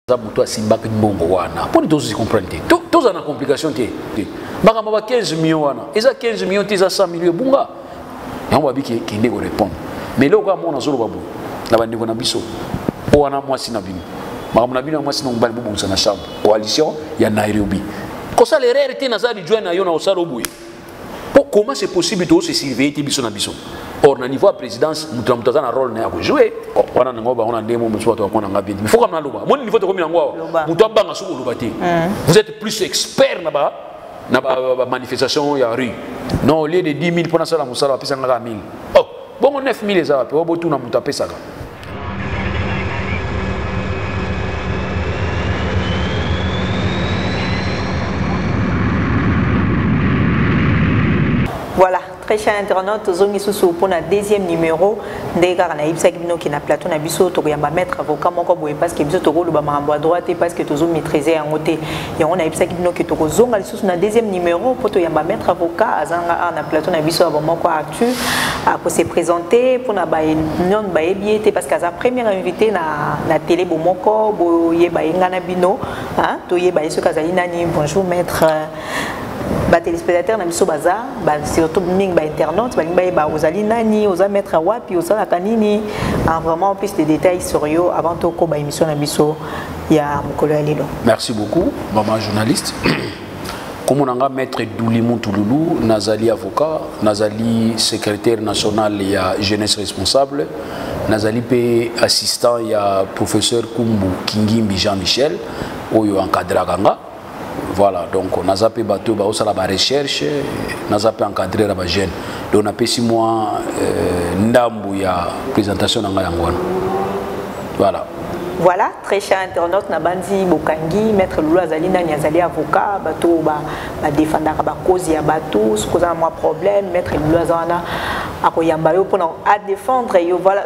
aza moto asimbaki mbongo wana mpo nini tozuzi comprendre te tozala na complication te makambo ba 15 million wana eza 15 million te eza 100 million ebunga yango babi kende korépondre mais eloko kaka moko nazoloba boye na bandeko na biso oyo wana mwasi na bino makambo na bino ya mwasi na mobali bobongisa na chambre coalition ya nairobi kosala erreur te naza lijoin na yo na kosala oboye po comment c'est possible to se surveiller te biso na biso or na niveau ya présidence moto na moto aza na role na ya kojoue wana nango bango na ndemo mosusu bato bakona nga bien mais foka naloba moni niveau tokomi yango awa moto abanga soki oloba te mm. vous êtes plus expert na ba na ba, ba, ba manifestation ya rue non au lieu de 10 000 mpo nasala mosala bapesa nga kaka 1000 oh bongo 9000 eza wapi oyo botuna moto apesaka voilà très cher internaute tozongi susu mpo na deuxième numéro ndenge kaka nayebisaki bino ke na plateau na biso tokoyamba maître avocat moko boye parce que biso tokoloba makambo ya droit te parce que tozo maîtrise yango te yango nayebisaki bino ke tokozonga lisusu na deuxième numéro mpo toyamba maître avocat azanga awa na plateau na biso ya bomoko arthur akose présente mpona non bayebi ye te parce que aza première invité na, na télé bomoko boyeba ye ngai na bino toyeba ye soki azali nani bonjour maître batelespectateur na biso baza surtout mingi bainternaute balingi bayeba ozali nani oza maître wapi osalaka nini ah, vraiment plus de détails sur yo avant tokoba émission na biso ya mokolo ya lelo merci beaucoup maman journaliste kombo na nga maître duli mutululu nazali avocat nazali secrétaire national ya jeunesse responsable nazali mpe assistant ya professeur kumbu kingimbi jean michel oyo encadraka nga voilà donc naza mpe bato oyo baosala barecherche naza mpe encadrer ya bajeune donc napesi mwa euh, ndambu ya présentation na ngai yango wana voilà Voilà, très cher internaute, Nabandi Bokangi, Maître Lulu Azali Nani Azali avocat, bateau ba, ba défendaka ba cause ya bateau, ce qu'on a un problème, Maître Lulu Azana, akoyamba yo pour à défendre yo, voilà.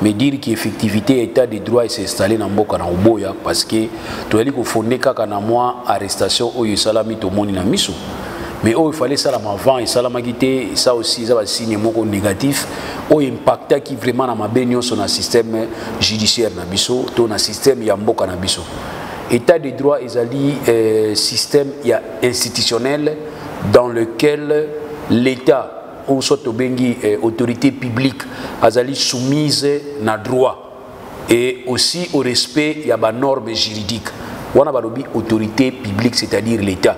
mais dire que effectivité ya état de droit ese installe na mboka na oboya parce que toyali kofonde kaka na mwa arrestation oyo esalami tomoni na miso mais oyo fallait esalama avant esalamaki te ça aussi eza basigne moko négatif oyo impactaki vraiment na mabe nyonso na système judiciaire na biso to na système ya mboka na biso état de droit ezali euh, système ya institutionnel dans lequel l'état ou soit tobengi eh, autorité publique azali soumise na droit et aussi au respect ya ba normes juridiques wana balobi autorité publique c'est-à-dire l'état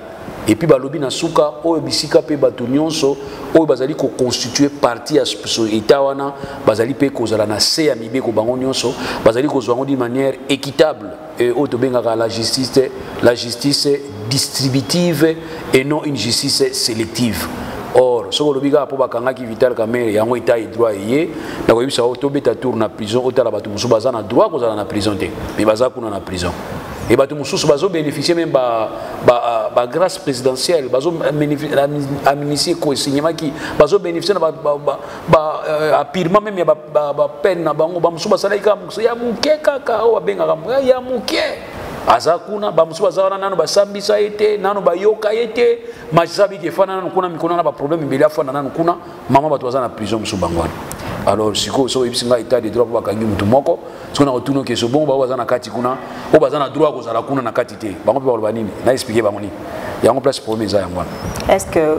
et puis balobi na suka oyo bisika pe bato nyonso oyo bazali koconstitue parti ya état wana bazali pe kozala na se ya mibeko bango nyonso bazali kozwa yango d'une manière équitable et oyo tobengaka la justice la justice distributive et non une justice sélective or soki olobi kaka mpo bakangaki vital kamere yango etat edroit eye nakoyebisa yo tobeta tour na prison otala bato mosusu baza na droit kozala na prison te mais baza kuna na prison e bato mosusu bazobénéficie meme bagrâce ba, ba présidentielle bazoamnistie ekoesinyemaki bazobénéficie na bapirement ba, ba, ba, euh, meme ya ba ba peine na bango ba musuba sala ika musu ya muke kaka o abenga kambo ya muke aza kuna ba musuba za wana nanu basambisa ete nanu bayoka ete majisa biki fana nanu kuna mikona na ba problème mbele afana nanu kuna mama bato baza na prison musuba ngwana alors sikoyo soki oyebisi ngai etat de droit mpo bakangi motu moko soki nakotuna okeso bongo bango baza na kati kuna oyo baza na droit ya kozala kuna na kati te bango mpe bakoloba nini na explike bango nini yango place problème eza yango wana est ce que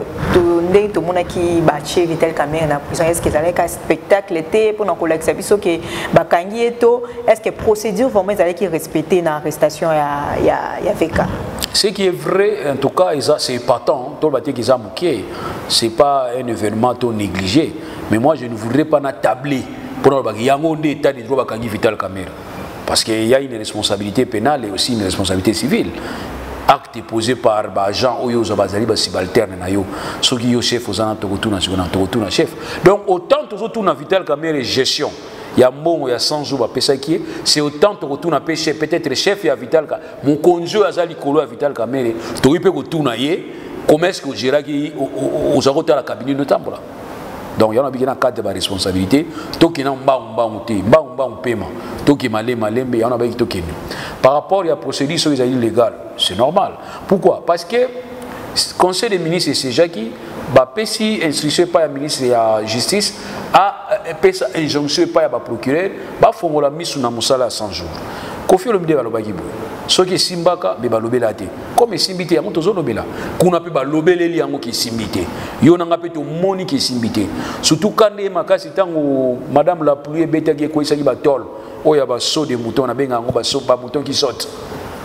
ndenge tomonaki batie vital camere na prison est ce que ezalaki ka spectacle te mpo na kolakisa biso ke bakangi ye to est ce que procédure vraiment ezalaki respecte na arrestation ya, ya, ya veka ce qui est vrai en tout cas eza c'est épatant toloba te ke eza moke c'est pas un événement to négligé mais moi je ne voudrais pas na table pour le baki yango nde état de droit bakangi vital camera parce qu'il y a une responsabilité pénale et aussi une responsabilité civile acte posé par baagent oyo oza bazali basibalterne na yo soki yo chef oza na tokotuna sikoyo na tokotuna chef donc autant tozotuna vital camere gestion ya mbongo ya 100 jours bapesaki ye c'est autant tokotuna mpe chef peut-être chef ya vital ka mokonzi oyo aza likolo ya vital kamere tokoki mpe kotuna ye comment est ce que ogeraki oza kotala kabine notambola donc yango nabiki na cadre ya baresponsabilité tokenda mbangu mbangu te mbangu mbangu mpema tokima le malembe yango nabaki tokende par rapport ya procédure soki ezali légal c'est normal pourquoi parce que conseil des ministres esejaki bapesi instruction epai ya ministre ya justice apesa euh, injonction epai ya baprocureur bafongola miso na mosala ya 100 jours kofi olomide balobaki boye soki esimbaka me balobela te comme esimbi te yango tozolobela kuna mpe balobeleli yango kesimbi te yo na ngai mpe tomoni kesimbi te surtout ka nde makasi ntango madame la pluie ebetaki ekweisaki batole oyo ya baso de mouton nabenga yango baso bamouton ki sote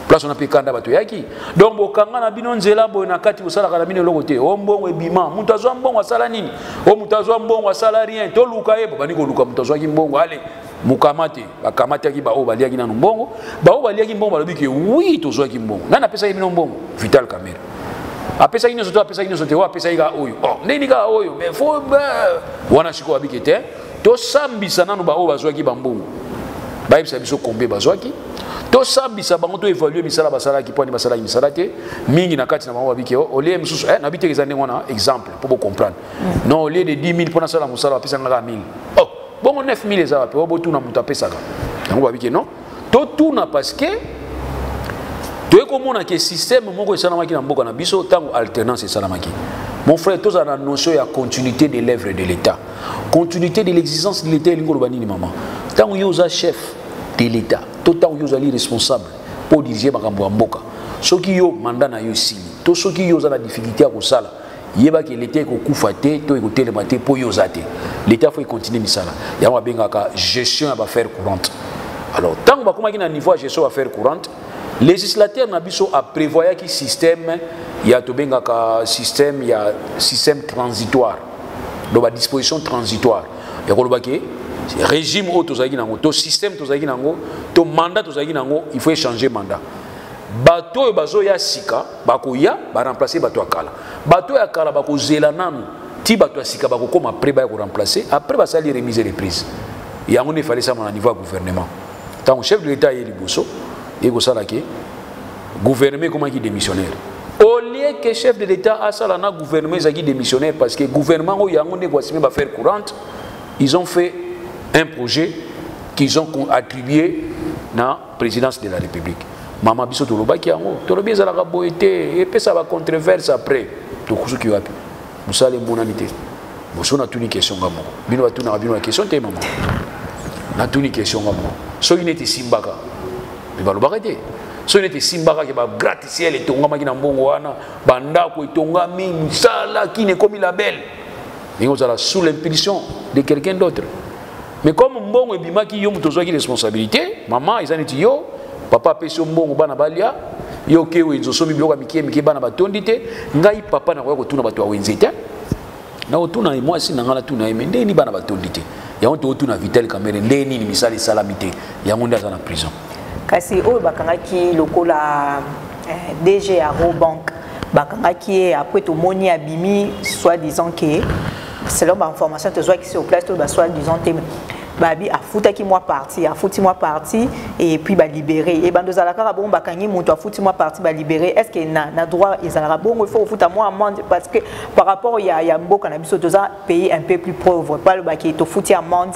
place wana mpe kanda bato yaki donc bokanga na bino nzela boye na kati bosalaka na bino eloko te o mbongo ebima moto azwa mbongo asala nini o moto azwa mbongo asala rien toluka ye bobandi koluka moto azwaki mbongo ale mokamate bakamataki baoyo baliaki nano mbongo baoyo baliaki mbongo balobi ke wi tozwaki mbongo nani apesaki bino mbongo vital camera apesaki nyonso to apesaki nyonso te oyo apesaki kaka oyo oh, ndenge kaka oyo mais fo wana sikoyo abiki te tosambisa nano baoyo bazwaki bambongo bayebisa biso kombe bazwaki tosambisa bango to évalue misala basalaki mpo ani basalaki misala te mingi na kati na bango babiki oh, olie mosusu eh, nabi te eza ndenge wana exemple mpo bocomprendre mm. non olie de 10 000 mpo nasala mosala bapesa ngaka 1000 oh. bongo 9000 eza wapi oyo botuna moto apesaka yango babi ke non totuna parce que toyei komona ke système moko esalamaki na mboka na biso ntango alternance esalamaki mon frère tozala na notion ya continuité de l'œuvre de l'état continuité de l'existence de l'état elingi oloba nini mama ntango yo oza chef de l'état to ntango yo ozali responsable mpo odirige makambo ya mboka soki yo manda na yo esili to soki yo oza na difficulté ya kosala yeba ke leta ekokufa te to ekotelema te mpo yo oza te leta fo ekontinue misala yango abengaka gestion ya bafaire courante alors ntango bakomaki na niveau ya gestion ya bafaire courante législateur na biso aprévoyaki système ya tobengaka système ya système transitoire donc badisposition transitoire ya koloba ke régime oyo tozalaki nango to système tozalaki nango to mandat tozalaki nango il faut échanger mandat bato oyo bazoya sika bakoya baremplace bato ya kala bato ya kala bakozela nanu ti bato ya sika bakokoma apres baya koremplace apres basali remise reprise yango nde efali esalama na niveau ya gouvernement ntango chef de l'état aye liboso ye kosala ke gouvernement ekomaki démissionnaire au lieu que chef de l'état asala na gouvernement ezalaki démissionnaire parce que gouvernement oyo yango nde ekoasime bafaire courante ils ont fait un projet qu'ils ont attribué na présidence de la république mama biso tolobaki yango tolobi ezalaka boye te epesa bacontreverse après tokusuki wapi mosala emonani te boso natuni question nga moko bino batunaka bino na question te mama natuni question nga moko soki neti esimbaka me balobaka te soki neti esimbaka ke bagraticiel etongamaki na mbongo wana bandako etongami misala kini ekomi label ndenge ozala sous l'impulsion de quelqu'un d'autre mais comme mbongo ebimaki yo moto ozwaki responsabilité mama eza neti yo papa apesi yo mbongo bana balya yo oke wenze osomi biloko ya mike mike bana batondi te ngai papa nakoya kotuna bato ya wenze te nakotuna ye mwasi na ngai natuna ye me ndenge nini bana batondi te yango tokotuna vital kamere ndenge nini misala esalami te yango nde aza na prison kasi oyo bakangaki lokola eh, dg ya robank bakangaki ye apres tomoni abimi soit disant ke selon ba information tozwaki sur place to ba soit disant te babi afutaki mwa parti afuti mwa parti et puis balibere e bando ezalaka kaka bongo bakangi moto afuti mwa parti balibere est ce que na, na droit ezalaka bongo il faut kofuta mwa amende parce que par rapport ya, ya mboka na biso toza pays un peu plus pauvre balobaki tofuti amende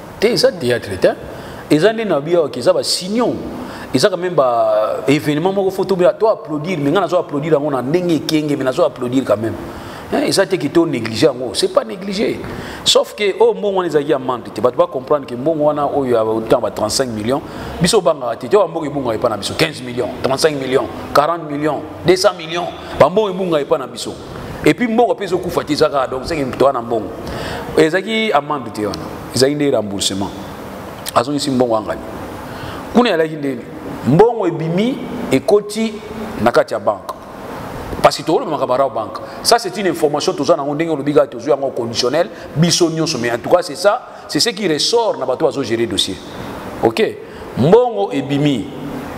te eza théâtre te eza nde na biyo eza ba signon eza quand même ba événement moko faut tobela to applaudir mais nga nazo applaudir yango na ndenge ekenge mais nazo applaudir quand même hein, eza te kito négliger yango c'est pas négliger sauf que oyo oh, mbongo wana ezalaki ya mande te bato bacomprendre ke mbongo wana oyo ya ntango ba 35 millions biso obangaka te te oyo bambongo ebungaka epai na biso 15 millions 35 millions 40 millions 200 millions bambongo ebungaka epai na biso et puis mbongo pe zo kufa ti zaka donc c'est que toi na mbongo ezaki amande te wana ezaki nde remboursement azongisi mbongo angani kuna yalaki ndeni mbongo ebimi ekoti na kati ya banke parce que tokolobamaka barao banque ça c'est une information toza nango ndenge olobi kaka tozwi yango conditionnel biso nyonso mais en tout cas c'est ça c'est ce qui ressort na bato bazogere dossier ok mbongo ebimi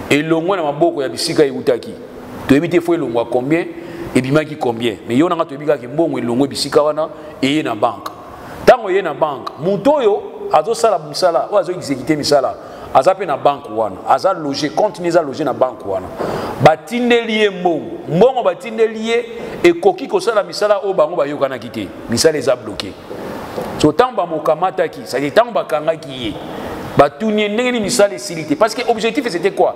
elongwe na maboko ya bisika eutaki toyebi te fo elongwa combien ebimaki combien mais yo nanga toyebi kaka mbongo elongwe bisika wana eye na banque ntango eye na banque moto oyo azosala mosala oyo azoexekite misala aza mpe na banque wana aza loge compte ni eza loge na banque wana batindeli ye mbongo mbongo batindeli ye ekoki kosala misala oyo bango bayokanaki te misala eza bloke so ntango bamokamataki sadi ntango bakangaki ye batuni ye ndenge nini misala esili te parce que objectif c'était quoi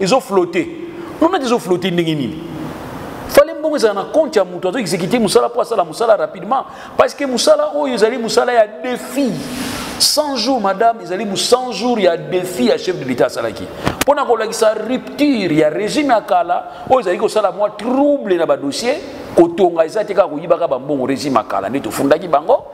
ezo flotte nonati ezo flotte ndenge nini fale mbongo ezala na compte ya moto azo exécuter mosala mpo asala mosala rapidement parce que mosala oyo ezali mosala ya défi 100 jours madame ezali 100 jours ya défi ya chef de l'état asalaki mpo na kolakisa rupture ya régime ya kala oyo ezali kosala mwa trouble na badossier kotonga eza te kaka koyibaka bambongo régime ya kala nde tofundaki bango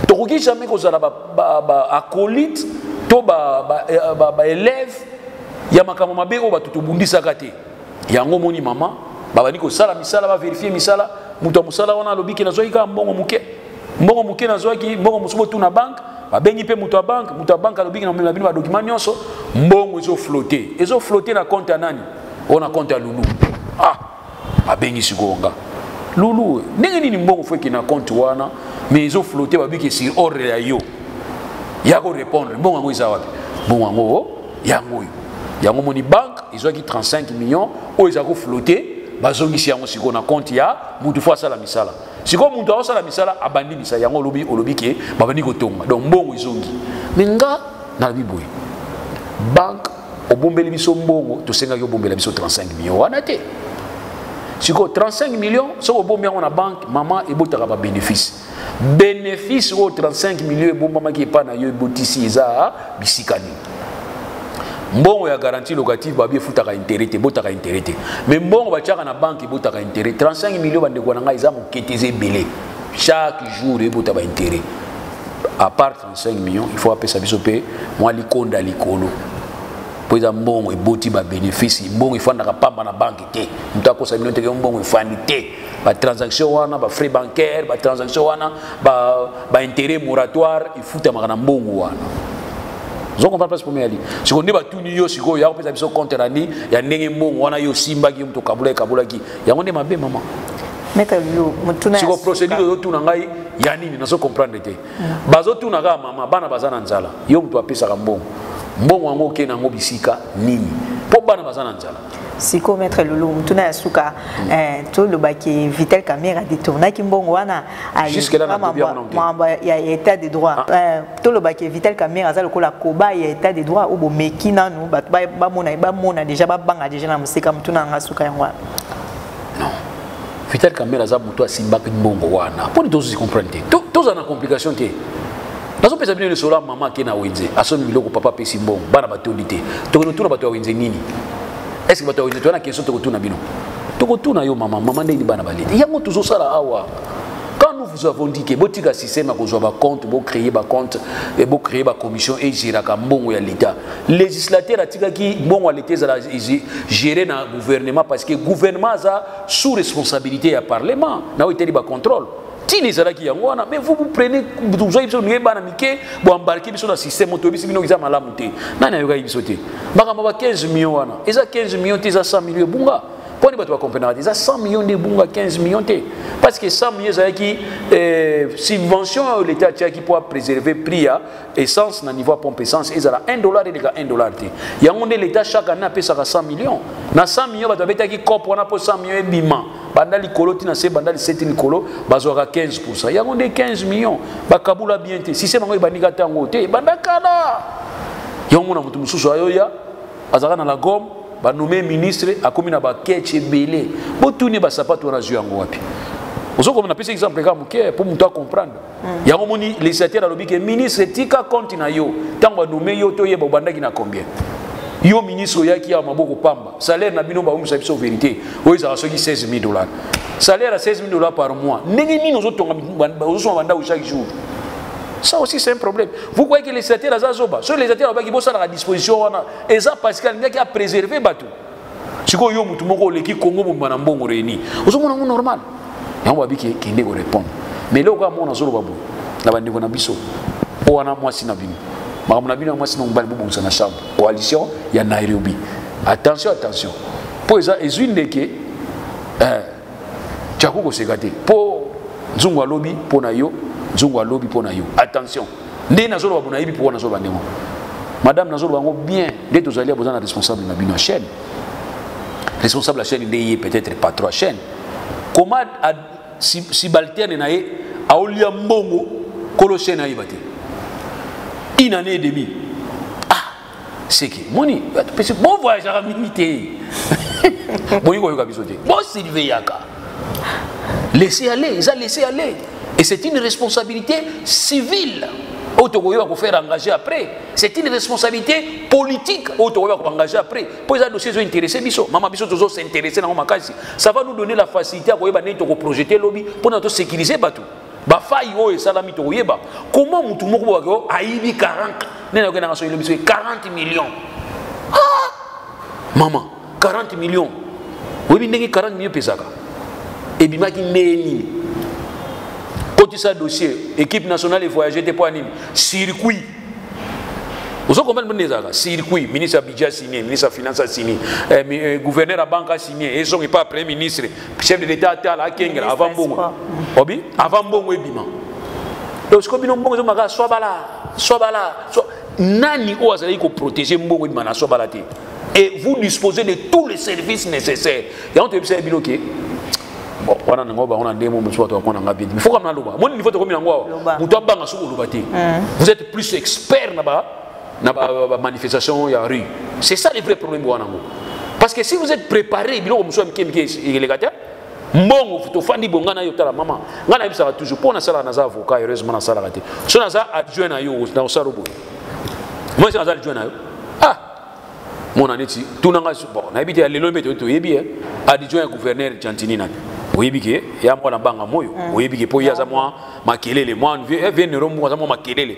tokoki jamais kozala baacolite to baelève eh, ya makambo mabe oyo bato tobundisaka te yango omoni mama babandi kosala misala baverifie misala moto ya mosala wana alobi ke nazwaki kaka mbongo moke mbongo moke nazwaki mbongo mosusu botuna banke babengi mpe moto ya banke moto ya banke alobi ke namemela bino badokima nyonso mbongo ezoflote ezoflote na konte ya nani oyo na konte ya lulu ah abengi sikoyo nga lulu ndenge nini mbongo fo ekende na compte wana mais ezo flotte babiki sur ordre ya yo ya korépondre mbongo yango eza wapi mbongo yango oh, yango oyo yango moni banque ezwaki 35 millions oyo eza koflotte bazongisi yango sikoyo na compte ya motu fo asala misala sikoyo motu aosala misala abandi misala yango olobi olobi ke babandi kotonga donc mbongo ezongi me nga nalobi boye banque obombeli biso mbongo tosengaki obombela biso 35 millions wana te sikoyo 35 millions soki obombi yango na banque mama ebotaka babénéfice bénéfice oyo 35 millions ebombamaki epai na yo ebotisi eza bisika nini mbongo ya garantie locative babi efutaka intérêt te ebotaka intérêt te mais mbongo batiaka na banque ebotaka intérêt 35 millions bandeko na ngai eza moke te eza ebele chaque jour ebota baintérêt apart 5 millions il faut apesa biso mpe mwa likonda likolo mpo eza mbongo eboti babenefice mbongo efandaka pamba na banke te moto akosa bino teke mbongo efandi te batransaction wana bafrais bancaire batransaction wana baintérêt moratoire efutamaka na mbongo wana ozo comprendre place problème yali sikoyo nde batuni yo sikoyo ya kopesa biso compte na nini ya ndenge mbongo wana yo osimbaki yo moto okabulaki kabulaki yango nde mabe mama sikoyo procédure ozotuna ngai ya nini nazo comprendre te bazotuna kaka mama bana baza na nzala yo moto apesaka mbongo mbongo yango okei na yango bisika nini mpo bana baza na nzala sikoyo maître lulu motuna ya suka eh, tolobaki vital camera detournaki mbongo wana mambo ya état de droit ah. eh, tolobaki vital camera aza lokola koba ya état de droit oyo bomeki nanu bato bamona déjà babanga déjà na mosika motuna yanga suka yango wana non vital kamere aza moto asimbaki mbongo wana mpo nini tozuzi comprendre te tozala na complication te nazopesa bino lisolo ya mama ake na wenze asombi biloko papa apesi mbongo bana batondi te tokende otuna bato ya wenze nini estce bato ya wenze toya na question tokotuna bino tokotuna yo mama mama ndeni bana baleli yango tozosala awa quand nous vous avons dit que botika système ya kozwa bacompte bocreye bacompte bocreye bacommission egéraka mbongo ya l'état legislateur atikaki mbongo ya leta ezala gere na gouvernement parce que gouvernement aza sous responsabilité ya parlement na oyo etali bacontrôle ntina ezalaki yango wana mais vous vous prenez tozwaki biso noye bana mike boembarke biso na système toyebisi bino eza malamu te nani ayokaki biso te makambo ba 15 million wana eza 15 million te eza 100 million ebunga mpo ni bato bakomprenaka te eza 100 million nde ebunga 15 million te parce que 100 million ezalaki eh, subvention oyo leta atiaki mpo apréserve prix ya essence na niveau ya pompe essence ezala 1 dollar eleka 1 dollar te yango nde leta chaque année apesaka 100 millions na 100 millions bato babetaki cope wana mpo 100 millions ebima banda likolo ti na se banda liseti likolo bazwaka 15 pourcent yango nde 15 millions bakabula bien te sisema yango ebandika ntango te ebanda kala yango na moto mosusu ayoya azalaka na la gomme banome ministre akomi na baketche ebele botuni basapato wana azwi yango wapi ozokomona napesi exemple kaka moke mpo moto acomprendre Hmm. yango moni législateur alobi ke ministre tika compte na yo ntango anome yo toyeba obandaki na combien yo ministre oyaki awa maboko pamba salaire na bino baumisa biso verité oyo ezalaka soki 16 000 dollars salaire ya 16 000 dollars par mois ndenge nini ozotonga ozosoma bandako chaque jour ça aussi c'est un problème vous croyez que législateur aza zoba soki législateur alobaki bosalaka disposition wana eza parce que alingaki apréserve bato sikoyo yo motu moko oleki kongo mobimba na mbongo reni ozomona yango normal yango babi kende korépondre mais eloko ya mona azoloba boye na bandeko na biso mpo wana mwasi na bino makambo na bino ya mwasi na mobali bobongisa na chambre coalition ya nairobi attention attention mpo eza ezwi ndeke eh, Tchako koseka te po nzungu alobi po na yo nzungu alobi po na yo attention nde nazoloba bo nayebi pourkua nazoloba ndenge madame nazoloba yango bien nde tozali ya boza na responsable na bino ya chaîne responsable ya chaîne nde ye peut-être patron ya chaîne comment subalterne na ye aolia mbongo kolo chaîne ayeba te une année et demie seke moni pesi bo voyageaka mingi te boyi koyoka biso te bosilveyaka laisser aller eza laisser aller et c'est une responsabilité civile oyo tokoki bakofaire engage après c'est une responsabilité politique oyo tokoki bakoengage après mpo eza dossier ezo intéresse biso mama biso tozo s'intéresse nango makasi ça va nous donner la facilité ya koyeba ndenge tokoprojete lobi mpo na tosécurise bato bafai oyo esalami tokoyeba koma motu moko boyake o ayibi 40 nene oke nanga soki lobi soki 40 million ah! mama 40 million oyebi ndenge 40 million epesaka ebimaki ndeye nini kotisa dossier équipe nationale evoyage te mpo ya nini circuit ozo comprendre mbonde ezalaka circuit ministre ya budget asigne ministre ya finance asigne eh, eh, gouverneur ya banque asigne ezongi mpa premier ministre chef de l'état atala akengela avant mbongo obi avant mbongo ebima donc sikoyo bino mbongo ezomaka swabala swabala nani oyo azalaki koprotege mbongo ebima na swabala te et vous disposez de tous les services nécessaires yango toyebisa ye bino ke bon wana nango bango na ndenge mosusu bato bakona nga bien mais faut kama naloba moni niveau tokomi yango awa moto abanga soki oloba te vous êtes plus expert na ba na ba, ba, ba manifestation ya rue c'est ça le vrai problème wana ngo parce que si vous êtes préparé biloko mosusu ya mike mike eleka te mbongo tofandi bo ngai nayo tala mama ngai nayebisaka toujours mpo nasalaka naza avocat heureusement nasalaka te so naza adjoint na yo na osala boye moi naza adjoint na yo ah mona neti tuna ngai bon nayebi te ya lelo mpe toyebi eh. adjoint ya gouverneur chantini nani oyebi ke ya mwana banga moyo mm. oyebi ke mpo ye aza mwa makelele mwa vie eh, nero moko aza mwa makelele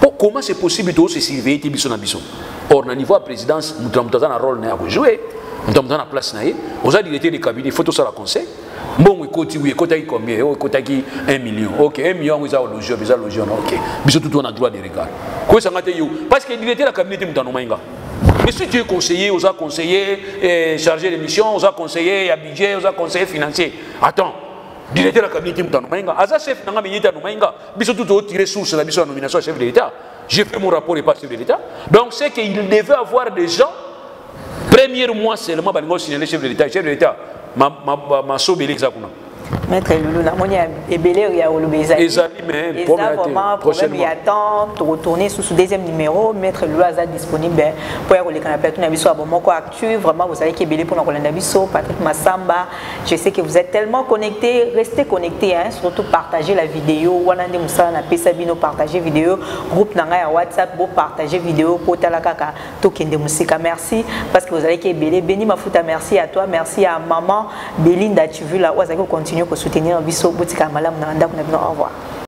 po comment c'est possible to se surveiller te biso na biso or na niveau ya présidence moto na moto aza na role na ya kojoue moto na moto aza na place na ye oza directeur de cabinet faut tosala conseil mbongo ekoti wi ekotaki combien oyo oh, ekotaki 1 million ok 1 million yango eza ologi oyo eza logi wana ok biso tutu wana droit de regard koyesanga te yo parce que directeur ya cabinet te moto anomai nga Mais si tu es conseiller, aux conseiller, eh, chargé de mission, aux conseiller, à budget, aux conseiller financier, attends, Directeur ya cabinet Mutano Mainga, aza chef nanga mais yeta no Mainga, biso tout au tirer source na biso nomination à chef de l'État. J'ai fait mon rapport et pas chef de l'État. Donc c'est qu'il devait avoir des gens premier mois seulement balingo signaler chef de l'État, chef de l'État ma ma ma, ma sobe l'exa kuna. Maître Loulou, na moni ebele ya olobe ezali. Ezali mais pour la vraiment problème ya temps to retourner sous ce deuxième numéro, Maître Loulou aza disponible pour ya koleka na plateau na biso abomoko suivre vraiment vous allez kebele pour kolanda biso Patrick Massamba je sais que vous êtes tellement connecté restez connecté hein surtout partager la vidéo wana nde musala na pesa bino partager vidéo groupe nanga ya WhatsApp bo partager vidéo pour tala kaka to kende musika merci parce que vous allez kebele béni mafuta merci à toi merci à maman Belinda tu veux la oza ko continuer ko soutenir biso botika malamu na ndako na bino au revoir